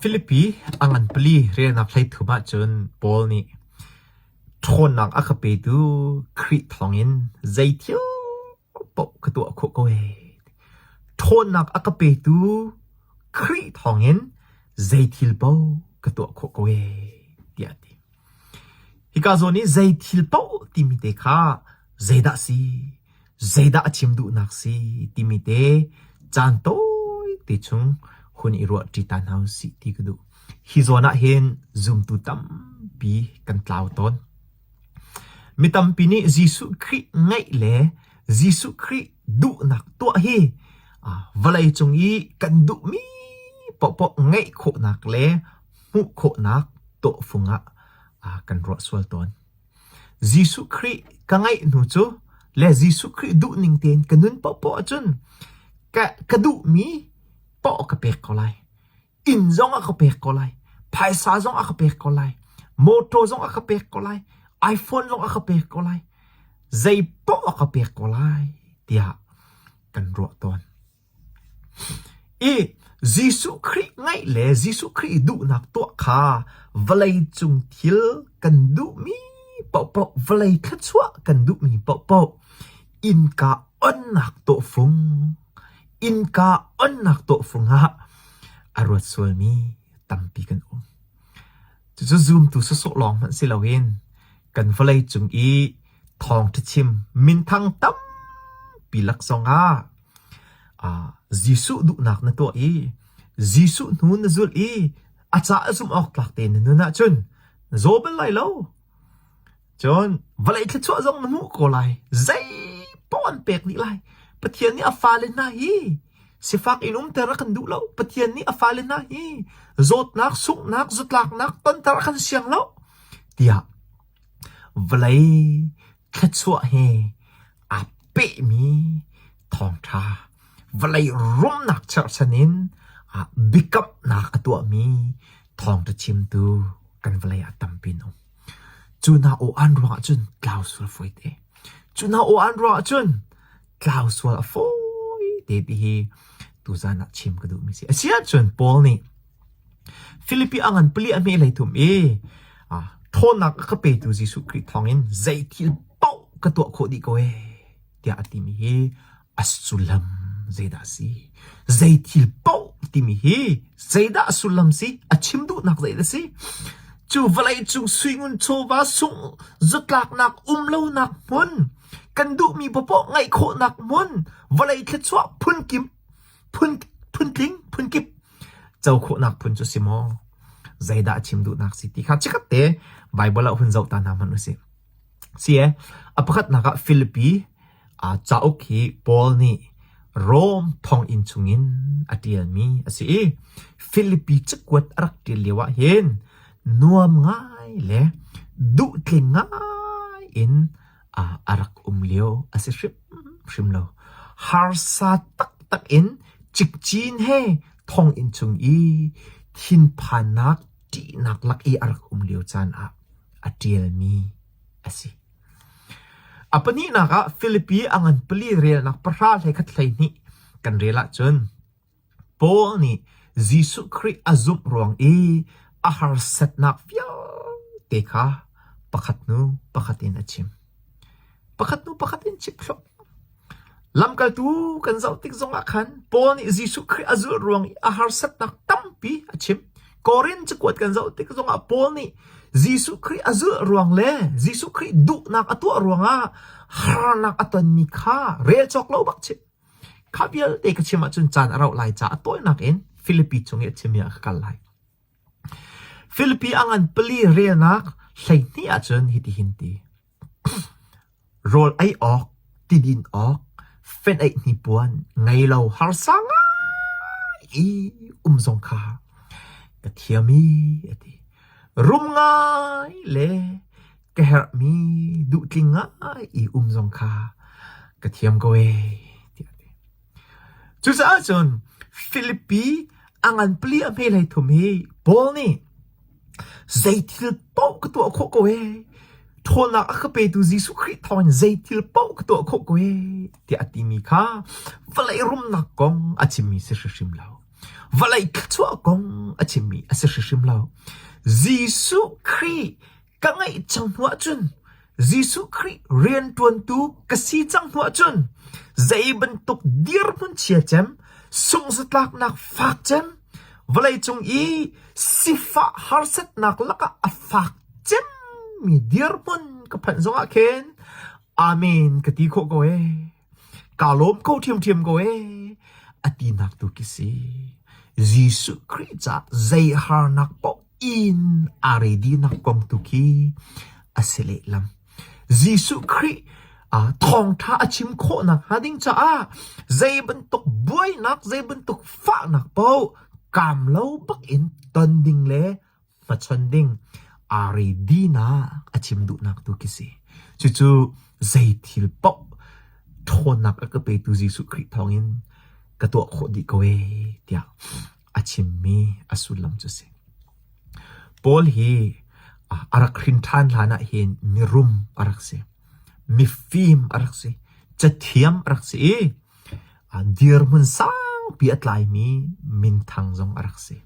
Filipi a ngan pali relnak hleithum ahcun Paul nih ṭhawnnak a ka petu Khrih thawngin zei thil paoh ka tuah khawh ko hei. Ṭhawnnak a ka petu Khrih thawngin zei thil paoh ka tuah khawh ko hei, tiah a ti. Hika zawn i zei thil paoh timi te kha zeidah a si, zeidah a chim duhnak si timi te caan tawite chung hun i ruahṭi ta hna usih ti ka duh. Hi zawn ahhin zumtu tampi kan tlau tawn. Mi tampi nih Jesuh Khrih ngaih le Jesuh Khrih Duhnak tuah hi vawlei cung i kan duhmi paohpaoh ngeih khawhnak le hmuh khawhnak tawhfung ah kan ruah sual tawn. Jesuh Khrih ka ngeih hnu cu le Jesuh Khrih duhning tein ka nun paohpaoh ahcun ka duhmi paoh ka pek ko lai. inn zong a ka pek ko lai, phaisa zong a ka pek ko lai, mawtaw zong a ka pek ko lai, iPhone zong a ka pek ko lai, zei paoh a ka pek ko lai tiah kan ruah tawn. I Jesuh Khrih ngaih le Jesuh Khrih duhnak tuah kha vawlei cung thil kan duhmi paohpaoh, vawlei thluachuah kan duhmi paohpaoh, Innka onnak tawhfung, innka onnak tawhfung ah a ruat sualmi tampi kan um. Cucu zumtu sawsawh lawng hmanh si loin kan vawlei cung i thawngṭha chim minthang tampi lak zong ah ah Jesuh duhnak na tuah i Jesuh hnu na zulh i a ca a zumh awk tlak te na nun ahcun na zaw bal lai lo. Cun vawlei thluachuah zong na hmuh ko lai. Zeipaoh an pek dih lai. Pathian nih a fale hna hi sifak in umter a kan duh lo. Pathian nih a fale hna hi zawtnak, sunghnak, zutlaknak tonter a kan siang lo tiah vawlei thluachuah he aa pehmi thawngṭha vawlei rumnak cherhchan in ah biakamnak a tuahmi thawngṭha chimtu kan vawlei ah tampi an um. Cu hna aw an ruangah cun tlau sual fawi te. Cu hna aw an ruangah cun tlau sual a fawi te ti hi tuzan ah chim ka duhmi si. A si ahcun Paul nih Filipi a ngan pali a hmeh hlei thum i ṭhawnnak a ka petu Jesuh Khrih thawngin zei thil paoh ka tuah khawh dih ko ee, tiah a timi hi a sullam zeidah a si? Zei thil paoh timi hi zeidah a sullam si? A chim duhnak zeidah a si? Cu vawleicung suingun chawva sung zutlaknak um lonak hmun, kan duhmi popoh ngaih khawhnak hmun, vawlei thluachuah phun kim, phun, phun tling, phun kip, co khawhnak phun cu si maw? Zeidah a chim duhnak si ti kha chikkhat te Baibal ah hun zoh ta hna hmanh u si. Si e, a pakhatnak ah Filipi uh, cauk hi Paul nih Rom thonginn chungin a ṭialmi a si i Filipi cakuat a rak ṭial lio ah hin nuam ngai le duhtling ngai in ah a rak um lio a si hrimhrim lo. Harsa taktak in cikcin he thonginn cung i thinphannak ṭihnak lak i a rak um lio caan ah a ṭialmi a si. A pahnihnak ah Filipi a ngan pali relnak pahra hlekhat hleihnih kan rel ahcun Paul nih Jesuh Khrih a zumh ruang i a harsatnak vialte kha pakhat hnu pakhat in a chim. Pakhat hnu pakhat in chimthluak. Lamkaltu kan zoh tik zongah khan Paul nih Jesuh Khrih a zulh ruang i a harsatnak tampi a chim. Korin cakuat kan zoh tik zongah Paul nih Jesuh Khrih a zulh ruang le Jesuh Khrih duhnak a tuah ruangah harnak a tonmi kha rel cawk lo bak chim. Kha vialte ka chim ahcun caan a rauh lai caah a tawinak in Filipi cung i a chimmi ah ka kal lai. Filipi a ngan pali relnak hleihnih ahcun hitihin ti: rawl ei awk, tidin awk, feneih hnipuan, ngei lo harsa ngai i um zong kha ka thiam i, a ti. Rum ngai le ka herhmi duhtling ngai i um zong kha ka thiam ko ee, tiah a ti. Cucaah cun Filipi a ngan pali a hme hlei thum hi Paul nih zeithil paoh ka tuah khawh ko ee, ṭhawnnak a ka petu Jesuh Khrih thawngin zeithil paoh ka tuah khawh ko ee, tiah a timi kha vawlei rumnak kong a chimmi si hrimhrim lo. Vawlei thluachuah kong a chimmi a si hrimhrim lo. Jesuh Khrih ka ngaih cang hnuah cun Jesuh Khrih rianṭuantu ka si cang hnuah cun zei bantuk dirhmun chia cem, sungzatlaknak fak cem, vawleicung i sifah harsatnak lakah a fak cemmi dirhmun ka phanh zongah khin amen ka ti khawh ko ee. kaa lawm ko ṭhiamṭhiam ko ee, a tinak tu khi si. Jesuh Khrih caah zei harnak paoh in aa readinak kong tu khi a si lehlam. Jesuh Khrih uh, thawngṭha a chim khawh nakhnga ding caah zei bantuk buainak, zei bantuk fahnak paoh kam lo bak in ton ding le hmachon ding aa re dinak a chim duhnak tu khi si. Cucu zei thil paoh ṭhawnnak a ka petu Jesuh Khrih thawngin ka tuah khawh dih ko e tiah a chimmi a sullam cu si. Paul hi a rak hrin ṭhan hlan ah hin mirum a rak si. Mifim a rak si. Cathiam a rak si i Dirhmun sangpi a tlaimi minthang zong a rak si.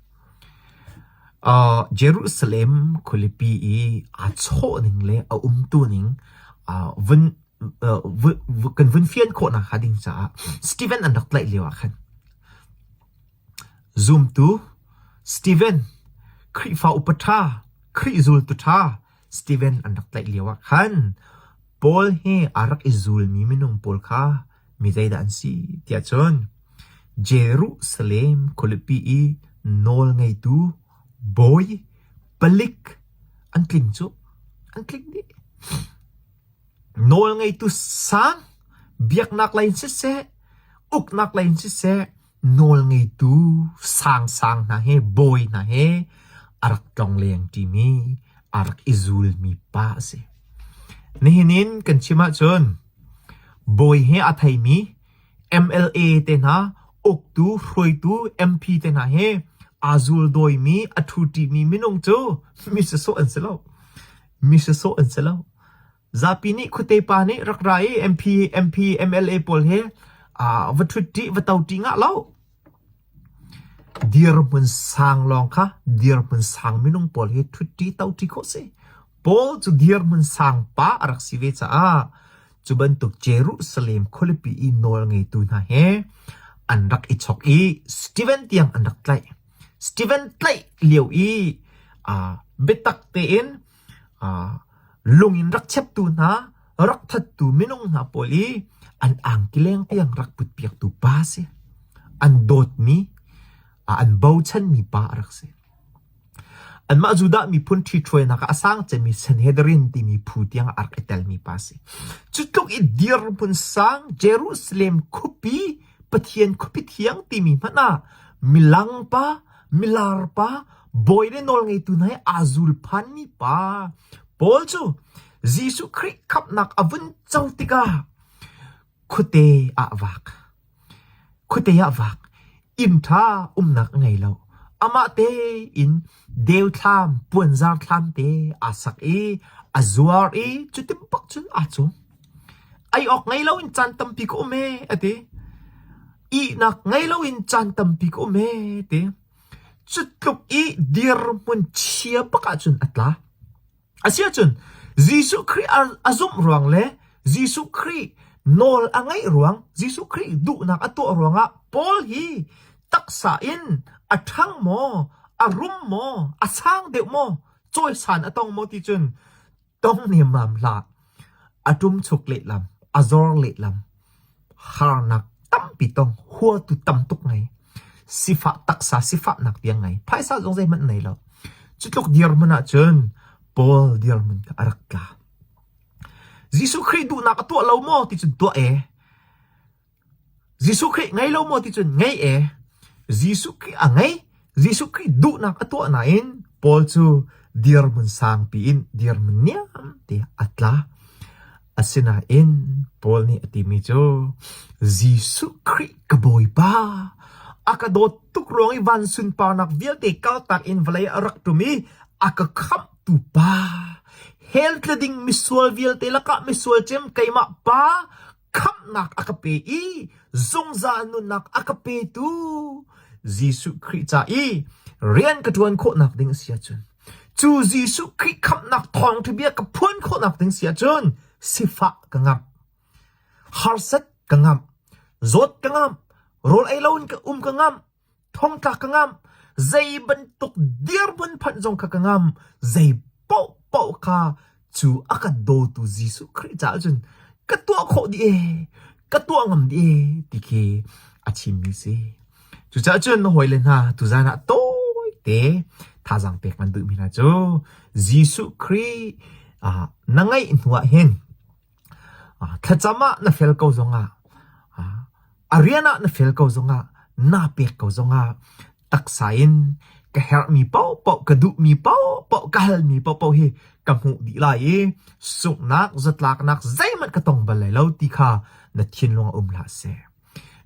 Jerusalem khualipi i aa chawh ning le a umtu ning kan vun fian khawhnak hnga ding caah Steven an rak tlaih lio ah khan zumtu Steven, Khrihfa upa ṭha, Khrih zultu ṭha Steven an rak tlaih lio ah khan Paul he aa rak i zulmi minung pawl kha mi zeidah an si tiah cun Jerusalem khualipi i nawlngeitu bawi palik an tling cu an tling dih. Nawlngeitu sang biaknak lei in siseh, uknak lei in siseh, Nawlngeitu sangsang hna he bawi hna he a rak tlongleng ṭimi aa rak i zulmi pa a si. Nihin in kan chim ahcun bawi he a theimi MLA te hna, uktu, hruaitu, MP te hna he aa zuldawimi, a ṭhuṭimi minung cu misasawh an si lo. Misasawh an si lo. Zapi nih khuate pa nih rak ra i MP, MP, MLA pawl hi va ṭhuṭi va toti ngah lo. Dirhmun sang lawng kha dirhmun sang minung pawl hi ṭhuṭi toti khawh si. Paul cu dirhmun sang pa a rak si ve caah cu bantuk Jerusalem khualipi i nawl ngeitu hna he an rak i chok i Steven tiang an rak tlaih. Steven tlaih lio i biatak tein lung in rak cheptu hna, rak thattu minung hna pawl i an angkileng tiang rak putpiaktu pa a si. An dawtmi, an bochanmi pa a rak si. Anmah Judah miphun ṭhithruainak ah a sang cemi Sanhedrin timi phu tiang a rak i telmi pa a si. Cu tluk i dirhmun sang Jerusalem khupi, Pathian khupi thiang timi hmanh ah milang pa, milar pa, Bawi le nawlngeitu hna he aa zul phanmi pa pawl cu Jesuh Khrih khamhnak a vun co tikah khuate ah vak. Khuate ah vak. Inn ṭha umnak a ngei lo. Amah tein deuthlam, puanzar thlam te aa sak i a zuar i cu timpak cun aa cum. Ei awk ngei loin caan tampi ka um e, a ti. Ihnak ngei loin caan tampi ka um e, ti. Cutluk i dirhmun chia bak ahcun a tla. Asiahcun Jesuh Khrih a zumh ruang le Jesuh Khrih nawl a ngaih ruang, Jesuh Khrih duhnak a tuah ruangah Paul hi taksa in a ṭhang maw, a rum maw, a sang deuh maw, cawisan a tong maw ti cun tong hniamnam hlah. A ṭum chuk lehlam, a zawr lehlam. Harnak tampi tong, huatu tam tuk ngei. Sifah taksa sifahnak tiang ngei. Phaisa zong zeihmanh nei lo. Cutluk dirmun ahcun Paul dirmun a rak tla. Jesuh Khrih duhnak a tuah lo maw ti cun tuah e. Jesuh Khrih ngei lo maw ti cun ngei ee. Jesuh Khrih a ngei. Jesuh Khrih duhnak a tuah nain Paul cu dirhmun sangpi in dirhmun niam te a tla. Asinain Paul nih a timi cu Jesuh Khrih ka Bawipa a ka dawt tuk ruang i van sunparnak vialte kaltak in vawlei a rak ṭum i a ka khamhtu pa hell tla ding misual vialte lakah misual cem keimah pa khamhnak a ka pe i zungzal nunnak a ka petu Jesuh Khrih ca i rian ka ṭuan khawhnak ding a si ahcun cu Jesuh Khrih khamhnak thawngṭhabia ka phuan khawhnak ding si ahcun sifah ka ngamh harsat ka ngamh zawt ka ngamh rawl ei loin ka um ka ngamh Thongtla ka ngamh, zei bantuk dirhmun phanh zong kha ka ngamh, zei paohpaoh kha cu a kan dawtu Jesuh Khrih caah cun ka tuah khawh dih ee, ka tuah ngam dih ee ti khi a chimmi si. Cucaah cun hawile hna tuzaan ah tawite thazaang pek nan duhmi hna cu Jesuh Khrih ah na ngeih hnuah hin Thlacam ah na fel ko zongah, a rian ah na fel ko zongah, naa pek ko zongah taksa in ka herhmi paohpaoh, ka duhmi paohpaoh, ka halmi paohpaoh hi ka hmuh dih lai i sunghnak, zatlaknak zeihmanh ka tong bal lai lo ti kha na thinlung ah um hlah seh.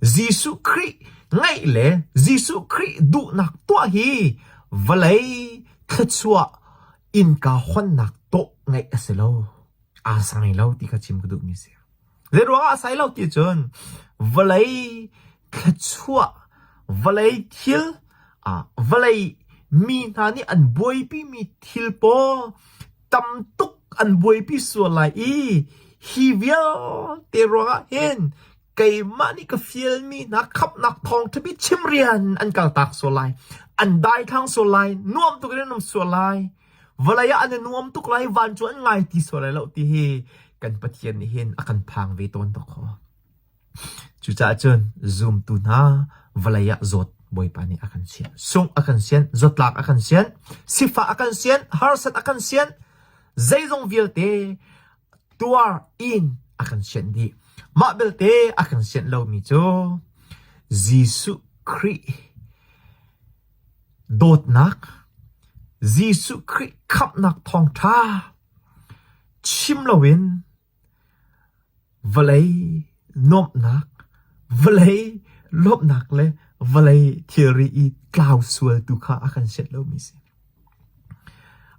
Jesuh Khrih ngaih le Jesuh Khrih duhnak tuah hi vawlei thluachuah innka honnak tawh ngaih a si lo. aa sai lo ti kha chim ka duhmi a si. Zeiruangah a sai lo ti cun vawlei thluachuah, vawlei thil, ah vawlei mi hna nih an buaipimi thil pawl tam tuk an buaipi sual lai i hi vialte ruangah hin keimah nih ka fialmi hna khamhnak thawng ṭhabi chimrian an kaltak sual lai. An daithlang sual lai, nuam tuk in an um sual lai. vawlei ah an i nuam tuk lai van cu an ngai ti sual lai lo ti hi kan Pathian nih hin a kan phang ve tawn to kho cucaah cun zumtu hna vawlei ah zawt bawipa nih a kan sian sung a kan sian zotlak a kan sian sifa a kan sian harsat a kan sian zeizong vialte tuar in a kan sian dih mah belte a kan sian lomi cu Jesuh Khrih Dawtnak, Jesuh Khrih khamhnak thawngṭha chim loin vawlei nuamhnak, vawlei lawmhnak le vawlei thilri i tlau sual tu kha a kan sianh lomi a si.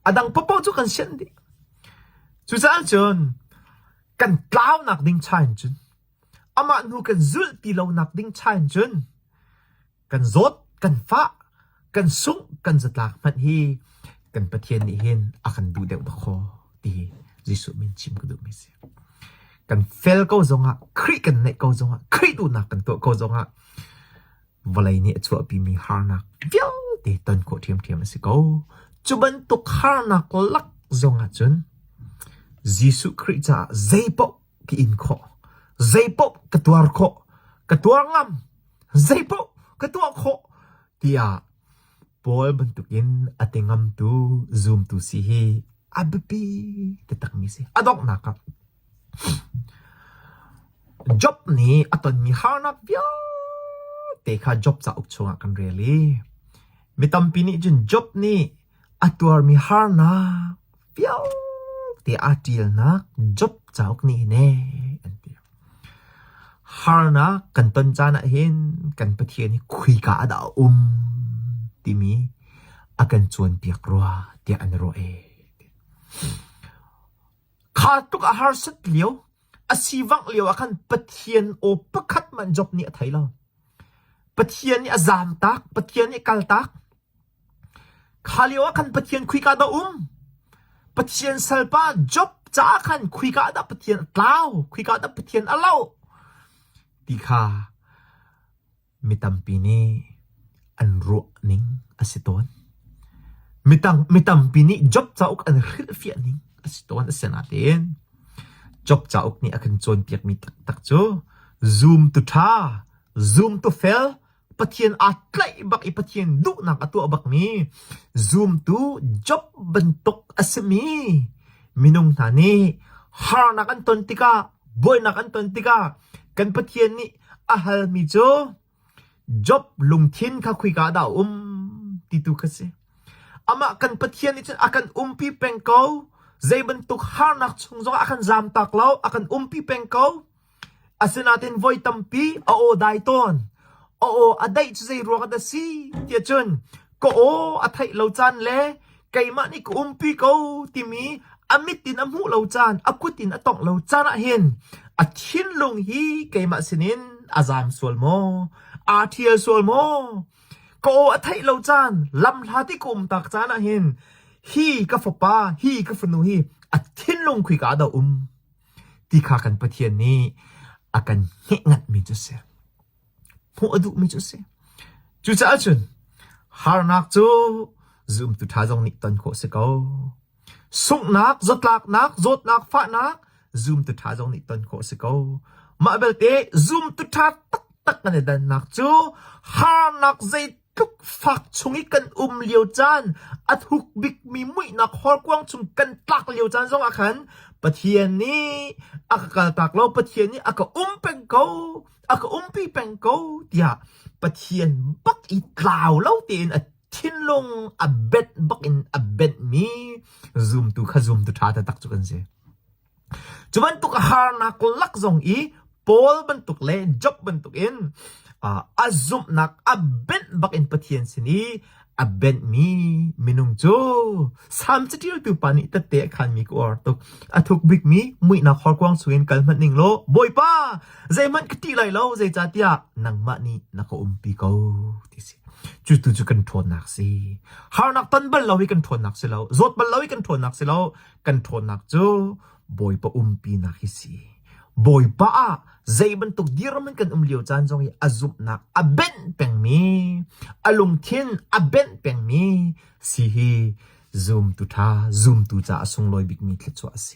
A dang paohpaoh cu kan sianh dih. Cucaah cun kan tlaunak ding cha in cun amah hnu kan zulh ti lonak ding cha in cun kan zawt, kan fah, kan sungh, kan zatlak hmanh hi kan Pathian nih hin a kan duh deuh khawh ti Jesuh min chim ka duhmi si. Kan fel ko zongah, Khrih kan neih ko zongah, Khrih duhnak kan tuah ko zongah, vawlei nih a chuahpimi harnak vialte ton khawh ṭhiamṭhiam a si ko. Cu bantuk harnak lak zongah cun, Jesuh Khrih caah zei paoh ka in khawh. Zeipaoh ka tuar khawh. Ka tuar ngam. Zeipaoh ka tuah khawh tiah Paul bantukin a ti ngamtu zumtu si hi a biapi takmi si. A donghnak ah Job nih a tonmi harnak vialte kha Job cauk chungah kan rel i mi tampi nih cun Job nih A tuarmi harnak vialte aa ṭialnak Job cauk nih hin ee an ti. Harnak kan ton caan ahhin kan Pathian hi khuika ah dah a um timi a kan cawnpiak rua tiah an ruah ee. Kha tluk a harsat lio, a sivangh lio ah khan Pathian aw pakhat man Job nih a thei lo. Pathian nih a zaamtak, Pathian nih a kaltak. Kha lio ah khan Pathian khika dah a um? Pathian salpa Job caah khan khika ah dah Pathian a tlau, khika ah dah Pathian a loh ti kha mi tampi nih an ruahning a si tawn. Mitang, mi tampi nih Job cauk an hrilhfiah ning a si tawn. Asinain Job cauk nih a kan cawnpiakmi taktak cu zoom tu ṭha, zoom tu fel, Pathian aa tlaih bak i Pathian duhnak a tuah bakmi zumtu Job bantuk a simi minung hna nih harnak an ton tikah buainak an ton tikah kan Pathian nih a halmi cu Job lungthin kha khuika ah dah a um ti tu kha si. Amah kan Pathian nih cun a kan umpi peng ko. Zei bantuk harnak chung zongah a kan zam tak lo, a kan umpi peng ko. Asinain voi tampi a aw dai tawn. A aw a daih cu zeiruang ah dah si tiah cun ka aw a theih lo caan le keimah nih ka umpi ko timi a mit in a hmuh lo caan, a kut in a tongh lo caan ahhin a thinlung hi keimah sinin a zaang sual maw? Aa ṭhial sual maw? Ka aw a theih lo caan, lamhlat i ka um tak caan ahhin hi ka fapa, hi ka fanu hi a thinlung khika ah dah um? ti kha kan Pathian nih a kan hnehngatmi cu a si. Hmuh a duhmi cu a si. Cucaah cun harnak cu zumtu ṭha zong nih ton khawh a si ko. Sunghnak, zotlaknak, zawtnak, fahnak zumtu ṭha zong nih ton khawh a si ko. Mah belte zumtu ṭha taktak kan i dannak cu harnak zei Tukfak chung i kan um lio caan, a thuk bikmi muihnak hawrkuang chung kan tlak lio caan zongah khan Pathian nih a ka kaltak lo, Pathian nih a ka um peng ko, a ka umpi peng ko tiah Pathian bak i tlau lo tein a thinlung a benh bak in a benhmi zumtu kha zumtu ṭha taktak cu kan si. Cu bantuk harnak lak zong i Paul bantuk le Job bantukin a zumhnak a benh bak in Pathian sin i a benhmi minung cu Salm caṭialtu pa nih tette a khanmi ka uar tuk. A thuk bikmi muihnak horkuang chungin kal hmanh ning law, Bawipa, zeihmanh ka ṭih lai lo, zeicahtiah nangmah nih na ka umpi ko, ti a si. Cutu cu kan ṭhawnnak a si. Harnak ton bal lo hi kan ṭhawnnak si lo. Zawt bal lo hi kan ṭhawnnak si lo. kan ṭhawnnak cu Bawipa umpinak hi si. Bawipa ah zei bantuk dirham in kan um lio caan zong i a zumhnak a benh pengmi, a lungthin a benh pengmi si hi zumtu ṭha, zumtu caah sunglawi bikmi thluachuah a si.